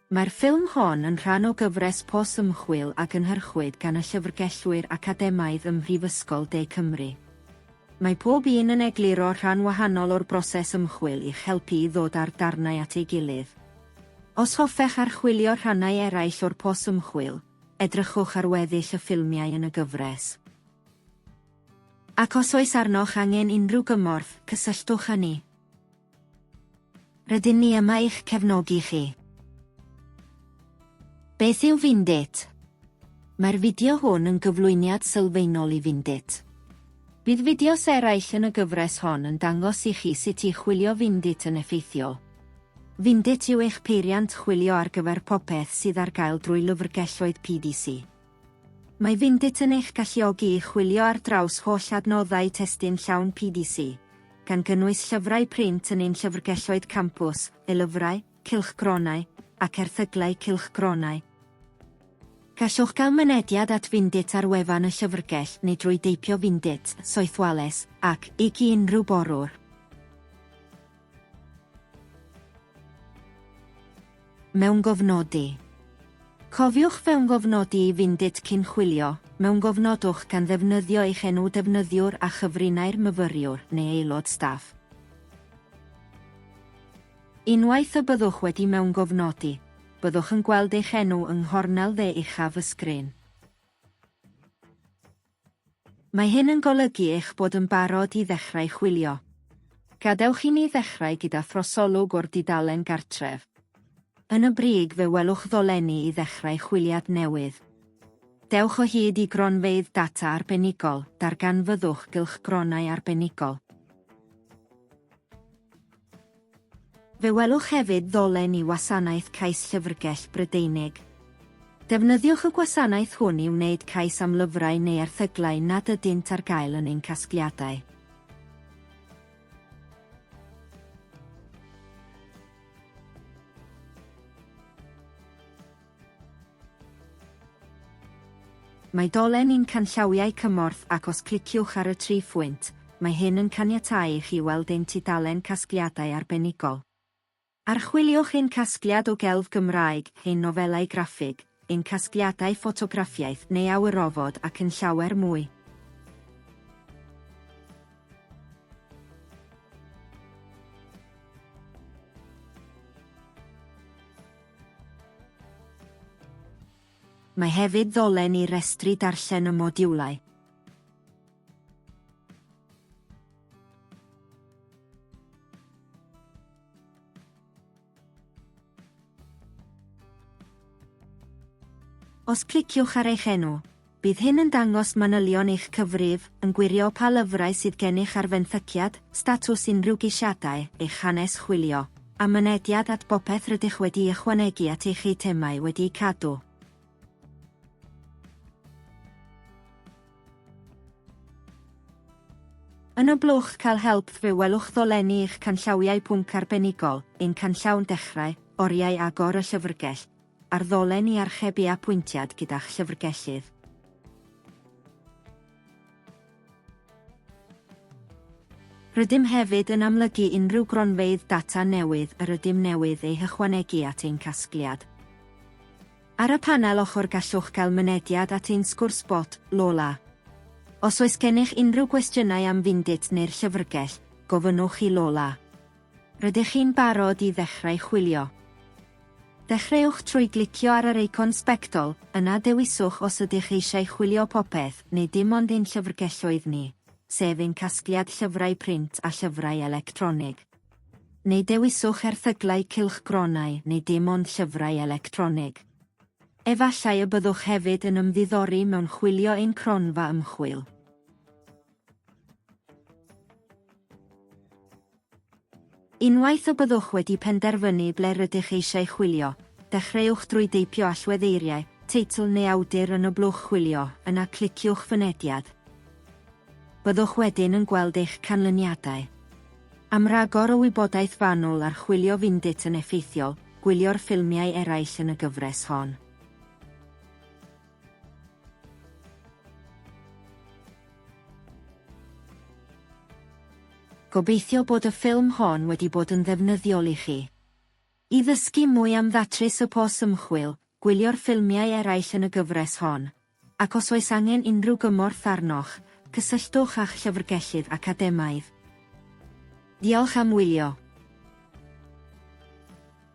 Mae'r ffilm hon yn rhan o gyfres pos ymchwil a gynhyrchwyd gan y Llyfrgellwyr Academaidd ym Mhrifysgol De Cymru. Mae pob un yn egluro rhan wahanol o'r broses ymchwil i'ch helpu i ddod â'r darnau at ei gilydd. Os hoffech archwilio rhannau eraill o'r pos ymchwil, edrychwch ar weddill y ffilmiau yn y gyfres. Ac os oes arnoch angen unrhyw gymorth, cysylltwch â ni. Rydyn ni yma i'ch cefnogi chi. Beth yw Vindit? Mae'r fideo hwn yn gyflwyniad sylfaenol i Vindit. Bydd fideos eraill yn y gyfres hon yn dangos i chi sut i chwilio Vindit yn effeithiol. Vindit yw eich peiriant chwilio ar gyfer popeth sydd ar gael drwy lyfrgelloedd PDC. Mae Vindit yn eich galluogi i chwilio ar draws holl adnoddau testun llawn PDC, gan gynnwys llyfrau print yn ein llyfrgelloedd campws, e-lyfrau, cylchgronau, ac erthyglau cylchgronau. Gallwch gael mynediad at Vindit ar wefan y llyfrgell neu drwy deipio Vindit, Soethwales, ac, ig i unrhyw borwr. Mewngofnodi. Cofiwch fewngofnodi i Vindit cyn chwilio, mewngofnodwch gan ddefnyddio eich enw defnyddiwr a chyfrinair myfyriwr neu aelod staff. Unwaith y byddwch wedi mewngofnodi, byddwch yn gweld eich enw yng nghornel dde uchaf y sgrin. Mae hyn yn golygu eich bod yn barod i ddechrau chwilio. Gadewch i ni ddechrau gyda throsolwg o'r dudalen Gartref. Yn y brig fe welwch ddolenni i ddechrau chwiliad newydd. Dewch o hyd i Gronfeydd Data Arbenigol, darganfyddwch gylchgronau arbenigol. Fe welwch hefyd ddolen i Wasanaeth Cais Llyfrgell Brydeinig. Defnyddiwch y gwasanaeth hwn i wneud cais am lyfrau neu erthyglau nad ydynt ar gael yn ein casgliadau. Mae dolen i'n canllawiau cymorth ac os cliciwch ar y tri phwynt, mae hyn yn caniatáu i chi weld ein tudalen casgliadau arbenigol. Archwiliwch ein casgliad o gelf Gymraeg, ein nofelau graffig, ein casgliadau ffotograffiaeth neu awyrofod ac yn llawer mwy. Mae hefyd ddolen i restru darllen y modiwlau. Os cliciwch ar eich enw, Bydd hyn yn dangos manylion eich cyfrif, yn gwirio pa lyfrau sydd gennych ar fenthyciad, statws unrhyw geisiadau, eich hanes chwilio, a mynediad at bopeth rydych wedi'i ychwanegu at eich eitemau wedi'u cadw. Yn y blwch Cael Help fe welwch ddolenni eich canllawiau pwnc arbenigol, ein canllawn Dechrau, Oriau Agor y Llyfrgell, Ar ddolen i archebu apwyntiad gyda'ch llyfrgellydd. Rydym hefyd yn amlygu unrhyw gronfeydd data newydd yr ydym newydd eu hychwanegu at ein casgliad. Ar y panel ochr gallwch gael mynediad at ein sgwrs bot, Lola. Os oes gennych unrhyw gwestiynau am Findit neu'r llyfrgell, gofynnwch i Lola. Rydych chi'n barod i ddechrau chwilio? Dechreuwch trwy glicio ar yr eicon sbectol, yna dewiswch os ydych eisiau chwilio popeth neu dim ond ein llyfrgelloedd ni, sef ein casgliad llyfrau print a llyfrau electronig. Neu dewiswch erthyglau cylchgronau neu dim ond llyfrau electronig. Efallai y byddwch hefyd yn ymddiddori mewn chwilio ein cronfa ymchwil. Unwaith y byddwch wedi penderfynu ble rydych eisiau chwilio, dechreuwch drwy deipio allweddeiriau, teitl neu awdur yn y blwch chwilio, yna cliciwch Fynediad. Byddwch wedyn yn gweld eich canlyniadau. Am ragor o wybodaeth fanwl ar chwilio Findit yn effeithiol, gwylio'r ffilmiau eraill yn y gyfres hon. Gobeithio bod y ffilm hon wedi bod yn ddefnyddiol i chi. I ddysgu mwy am ddatrys y pos ymchwil, gwylio'r ffilmiau eraill yn y gyfres hon, ac os oes angen unrhyw gymorth arnoch, cysylltwch â'ch llyfrgellydd academaidd. Diolch am wylio.